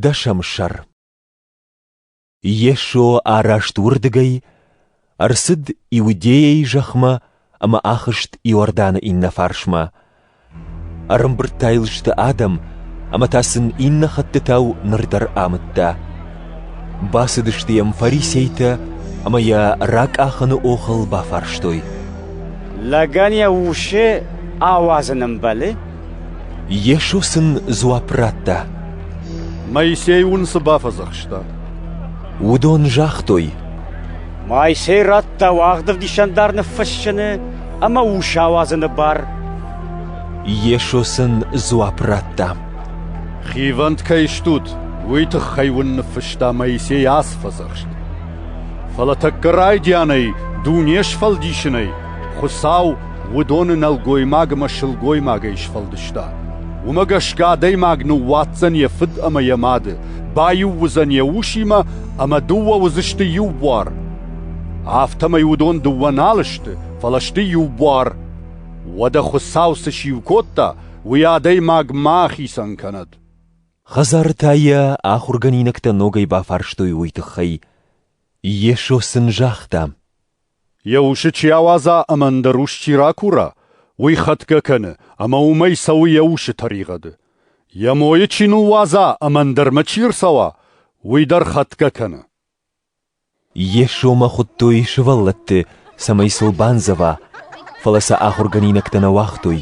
Дӕсӕм сӕр Йесо араст уырдыгӕй, ӕрцыд Иудейӕйы зӕхмӕ ӕмӕ ахызт Иорданы иннӕ фарсмӕ. Ӕрӕмбырдта йыл сты адӕм, ӕмӕ та сын иннӕ хӕттытау ныр дӕр амыдта. Бацыдысты йӕм фарисейтӕ ӕмӕ йӕ ракъахыны охыл бафарстой. Лӕгӕн йӕ усы ауадзын ӕмбӕлы? Йесо сын дзуапп радта. Моисей уын цы бафӕдзӕхста? Уыдон загътой. Моисей радта уӕгъд ӕвдисӕндар ныффыссыны ӕмӕ ус ауадзыны бар. Йесо сын дзуапп радта. Хивӕнд кӕй стут, уый тыххӕй уын ныффыста Моисей ацы фӕдзӕхст. Фӕлӕ тӕккӕ райдианӕй дуне сфӕлдисынӕй Хуыцау Уыдоны нӕлгоймаг ӕмӕ сылгоймагӕй сфӕлдыста. Уымӕ гӕсгӕ адӕймаг ныууадздзӕн йӕ фыд ӕмӕ йӕ мады, баиу уыдзӕн йӕ усимӕ ӕмӕ дыууӕ уыдзысты иу буар. Афтӕмӕй уыдон дыууӕ нал сты, фӕлӕ сты иу буар. Уӕдӕ Хуыцау цы сиу кодта, уый адӕймаг ма ахицӕн кӕнӕд. Хӕдзарытӕ йӕ ахуыргӕнинӕгтӕ ногӕй бафарстой уый тыххӕй. Йесо сын загъта, Йӕ усы чи ауадза ӕмӕ ӕндӕр ус чи ракура, уый хӕтгӕ кӕны ӕмӕ уымӕй цӕуы йӕ усы тӕригъӕды. Йӕ мойы чи ныууадза ӕмӕ ӕндӕрмӕ чи ӕрцӕуа, уый дӕр хӕтгӕ кӕны. Йесомӕ хуыдтой сывӕллӕтты, цӕмӕй сыл бандзӕва, фӕлӕ сӕ ахуыргӕнинӕгтӕ нӕ уагътой.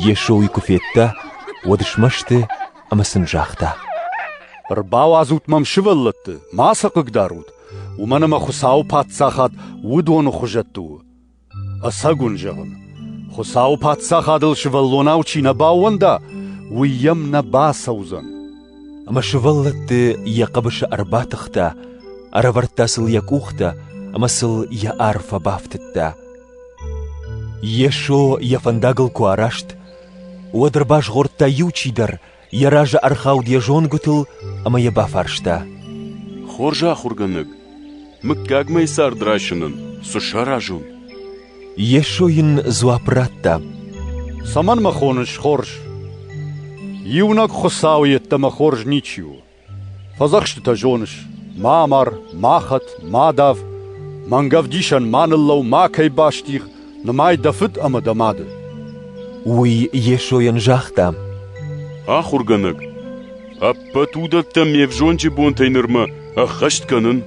Йесо уый куы федта, уӕд смӕсты ӕмӕ сын загъта. Ӕрбауадзут мӕм сывӕллӕтты, ма сӕ хъыгдарут, уымӕн ӕмӕ Хуыцауы Паддзахад уыдоны хуызӕтты у. Ӕцӕг уын зӕгъын, Хуыцауы Паддзахадыл сывӕллонау чи нӕ баууӕнда, уый йӕм нӕ бацӕудзӕн. Ӕмӕ сывӕллӕтты йӕ хъӕбысы ӕрбатыхта, ӕрӕвӕрдта сыл йӕ къухтӕ ӕмӕ сыл йӕ ар фӕбафтыдта. Йесо йӕ фӕндагыл куы араст, уӕд ӕрбазгъордта иу чидӕр, йӕ разы ӕрхауд йӕ зонгуытыл ӕмӕ йӕ бафарста. «Хорз ахуыргӕнӕг, мыггаг мӕй цард райсынӕн цы саразон?» Йесо йын дзуапп радта. «Цӕмӕн мӕ хоныс хорз? Иунӕг Хуыцау йеддӕмӕ хорз ничи у. Фӕдзӕхстытӕ зоныс: ма амар, ма хӕт, ма дав, мӕнг ӕвдисӕн ма ныллӕу, макӕй бастигъ, нымай дӕ фыд ӕмӕ дӕ мады. Уый Йесойӕн загъта: Ахуыргӕнӕг, ӕппӕт уыдӕттӕ ме взонджы бонтӕй нырмӕ ӕххӕст кӕнын.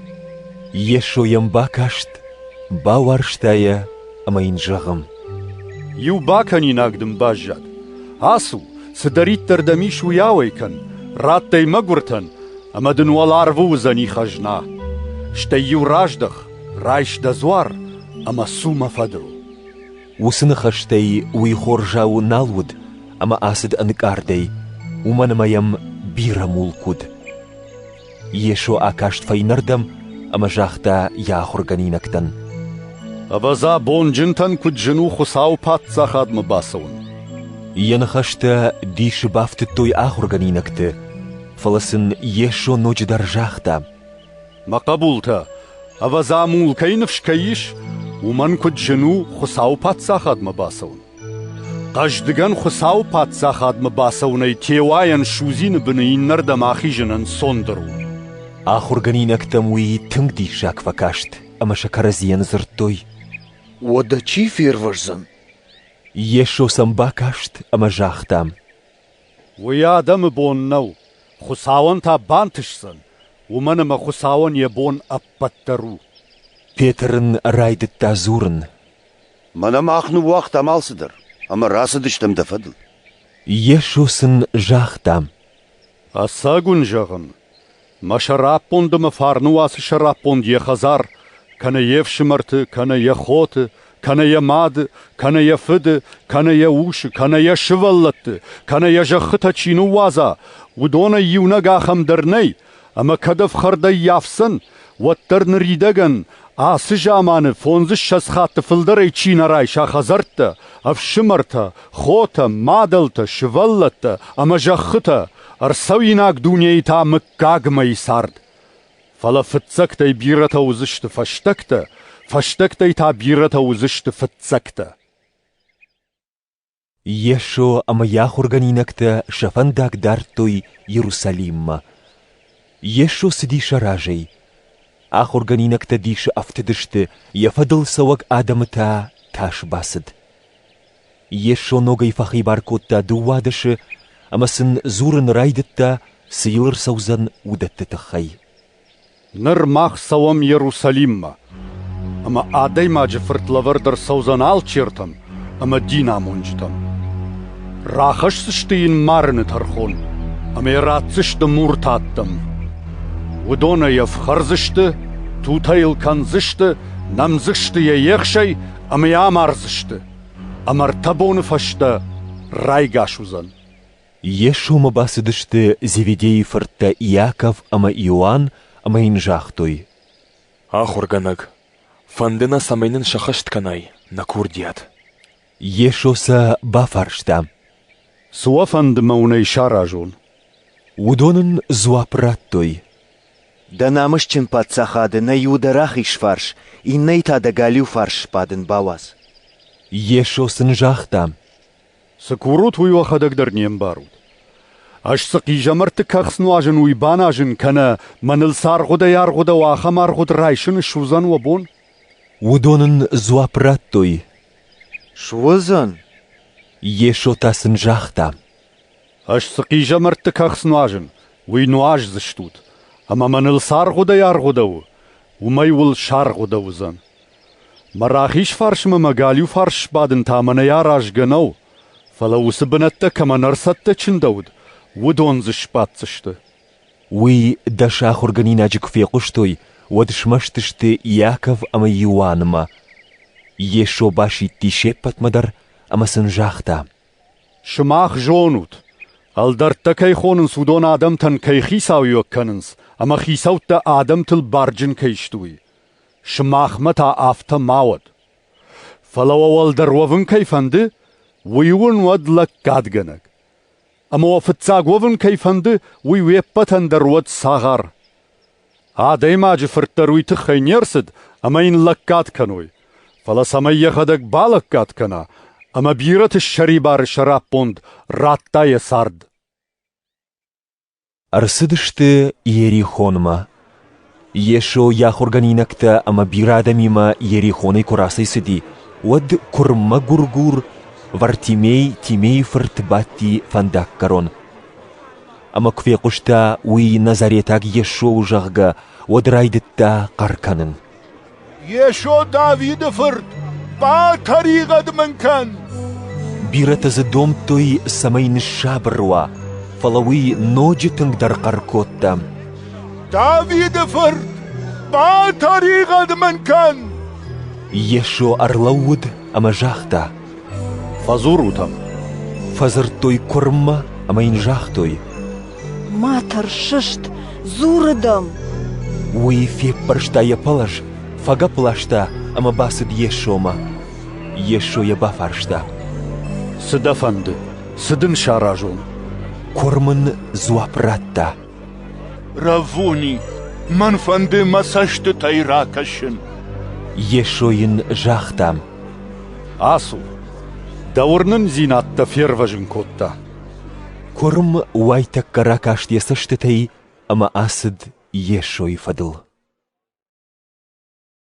Йесо йӕм бакаст, бауарзта йӕ ӕмӕ йын зӕгъы: Иу бакӕнинаг дын баззад. Ацу, Цыдӕриддӕр дӕм ис, уый ауӕй кӕн, радт ӕй мӕгуыртӕн, ӕмӕ дын уӕларвы уыдзӕни хӕзна. Стӕй-иу раздӕх, райс дӕ дзуар ӕмӕ цу мӕ фӕдыл. Уыцы ныхӕстӕй уый хорзау нал уыд ӕмӕ ацыд ӕнкъардӕй, уымӕн ӕмӕ йӕм бирӕ мулк уыд. Йесо акаст фӕйнӕрдӕм ӕмӕ загъта йӕ ахуыргӕнинӕгтӕн: «Ӕвӕдза, бонджынтӕн куыд зын у Хуыцауы Паддзахадмӕ бацӕуын!» Йӕ ныхӕстӕ дисы бафтыдтой ахуыргӕнинӕгты, фӕлӕ сын Йесо ноджыдӕр загъта: «Мӕ хъӕбултӕ, ӕвӕдза, мул кӕй ныфс кӕй ис, уымӕн куыд зын у Хуыцауы Паддзахадмӕ бацӕуын!» Хъӕздыгӕн Хуыцауы Паддзахадмӕ бацӕуынӕй теуайӕн судзины быны иннӕрдӕм ахизынӕн цондыр у. Ахуыргӕнинӕгтӕм уый тынг диссаг фӕкаст ӕмӕ сӕ кӕрӕдзийӕн дзырдтой. Уӕдӕ чи фервӕздзӕн? Йесо сӕм бакаст ӕмӕ загъта. Уый адӕмы бон нӕу, Хуыцауӕн та бантысдзӕн, уымӕн ӕмӕ Хуыцауӕн йӕ бон ӕппӕт дӕр у. Петр ын райдыдта дзурын. Мӕнӕ мах ныууагътам алцыдӕр, ӕмӕ рацыдыстӕм дӕ фӕдыл. Йесо сын загъта: Ӕцӕг уын зӕгъын, мӕ сӕраппонд ӕмӕ фарны уацы сӕраппонд йӕ хӕдзар, кӕнӕ йе фсымӕрты, кӕнӕ йӕ хоты, кӕнӕ йӕ мады, кӕнӕ йӕ фыды, кӕнӕ йӕ усы, кӕнӕ йӕ сывӕллӕтты, кӕнӕ йӕ зӕххытӕ чи ныууадза, уыдонӕй иунӕг ахӕм дӕр нӕй, Ӕмӕ кӕд ӕфхӕрдӕй йафдзӕн, уӕддӕр ныридӕгӕн, ацы заманы фондзыссӕдз хатты фылдӕрӕй чи нӕ райса хӕдзӕрттӕ, ӕфсымӕртӕ, хотӕ, мадӕлтӕ, сывӕллӕттӕ ӕмӕ зӕххытӕ, ӕрцӕуинаг дунейы та мыггагмӕйы цард. Фӕлӕ фыццӕгтӕй бирӕтӕ уыдзысты фӕстӕгтӕ, фӕстӕгтӕй та бирӕтӕ уыдзысты фыццӕгтӕ. Йесо ӕмӕ йӕ ахуыргӕнинӕгтӕ сӕ фӕндаг дардтой Иерусалиммӕ. Йесо цыди сӕ разӕй. Ахуыргӕнинӕгтӕ дисы ӕфтыдысты, йӕ фӕдыл цӕуӕг адӕмы та тас бацыд. Йесо ногӕй фӕхибар кодта дыууадӕсы ӕмӕ сын дзурын райдыдта, цы йыл ӕрцӕудзӕн, уыдӕтты тыххӕй. Ныр мах цӕуӕм Иерусалиммӕ, ӕмӕ Адӕймаджы Фырт лӕвӕрд ӕрцӕудзӕн алчертӕм ӕмӕ динамонджытӕм. Рахӕсдзысты йын марыны тӕрхон ӕмӕ йӕ ратдзысты мурты ӕддӕм. Уыдон ӕй ӕфхӕрдзысты, тутӕ йыл кӕндзысты, нӕмдзысты йӕ ехсӕй ӕмӕ йӕ амардзысты, ӕмӕ ӕртӕ боны фӕстӕ райгас уыдзӕн. Йесомӕ бацыдысты Зеведейы фырттӕ Иаков ӕмӕ Иоанн ӕмӕ йын загътой: «Ахуыргӕнӕг, фӕнды нӕ, цӕмӕй нын сӕххӕст кӕнай нӕ курдиат». Йесо сӕ бафарста: «Цы уӕ фӕнды мӕ уынӕй саразон?» Уыдон ын дзуапп радтой: «Дӕ намысджын паддзахады нӕ Иуда рахиз фарс, иннӕйы та дӕ галиу фарс сбадын бауадз». Йесо сын загъта: Цы курут, уый уӕхӕдӕг дӕр не мбарут. Ӕз цы хъизӕмӕртты кӕхц нуазын, уый баназын кӕнӕ, мӕныл цы аргъуыдӕй-аргъуыдӕу ахӕм аргъуыд райсын суыдзӕн уӕ бон? Уыдон ын дзуапп радтой. Суыдзӕн? Йесо та сын загъта. Ӕз цы хъизӕмӕртты кӕхц нуазын, уый нуаздзыстут, ӕмӕ мӕныл цы аргъуыдӕй-аргъуыдӕу, уымӕй уыл саргъуыдӕ уыдзӕн. Мӕ рахизфарсмӕ мӕ галиуфарс сбадын та мӕнӕй аразгӕ нӕу, фӕлӕ уыцы бынӕттӕ кӕмӕн ӕрцӕттӕ чындӕуыд, уыдон дзы сбаддзысты. Уый дӕ сӕ ахуыргӕнинаджы куы фехъуыстой, уӕд смӕсты сты Иаков ӕмӕ Иоаннмӕ. Йесо басидти се ппӕтмӕ дӕр ӕмӕ сын загъта: «Сымах зонут, ӕлдӕрттӕ кӕй хонынц, уыдон адӕмтӕн кӕй хицауиуӕг кӕнынц ӕмӕ хицӕуттӕ адӕмтыл барджын кӕй сты, уый. Сымахмӕ та афтӕ ма уӕд. Фӕлӕ уӕ уӕлдӕр уӕвын кӕй фӕнды, уый уын уӕд лӕггадгӕнӕг. Ӕмӕ уӕ фыццаг уӕвын кӕй фӕнды, уый уе ппӕтӕн дӕр уӕд цагъар. Адӕймаджы фырт дӕр уый тыххӕй не рцыд, ӕмӕ йын лӕггад кӕной. Фӕлӕ цӕмӕй йӕхӕдӕг балӕггад кӕна, ӕмӕ бирӕты ссӕрибары сӕраппонд радта йӕ цард. Ӕрцыдысты Иерихонмӕ. Йесо йӕ ахуыргӕнинӕгтӕ ӕмӕ бирӕ адӕмимӕ Иерихонӕй куы рацӕйцыди, уӕд куырммӕ гуыр-гур Вартимей Тимейы фырт бадти фӕндаггӕрон. Ӕмӕ куы фехъуыста, уый назаретаг Йесо у, зӕгъгӕ, уӕд райдыдта хъӕр кӕнын. Йесо Давиды фырт, батӕригъӕд мын кӕн! Бирӕтӕ дзы домдтой, цӕмӕй ныссабыр уа, фӕлӕ уый ноджы тынгдӕр хъӕр кодта. Давиды фырт, батӕригъӕд мын кӕн! Йесо ӕрлӕууыд ӕмӕ загъта: «Фӕдзурут ӕм!» Фӕдзырдтой куырммӕ ӕмӕ йын загътой: Ма тӕрсыст, дзуры дӕм! Уый феппӕрста йӕ пӕлӕз, фӕгӕпп ласта ӕмӕ бацыд Йесомӕ. Йесо йӕ бафарста. «Цы дӕ фӕнды? Цы дын саразон?» Куырм ын дзуапп радта. «Раввуни, мӕн фӕнды мӕ цӕстытӕй ракӕсын». Йесо йын загъта. «Ацу! Дӕ уырнындзинӕдтӕ фервӕзын кодта. Куырм уайтӕккӕ ракаст йӕ цӕстытӕй ӕмӕ ацыд Йесойы фӕдыл.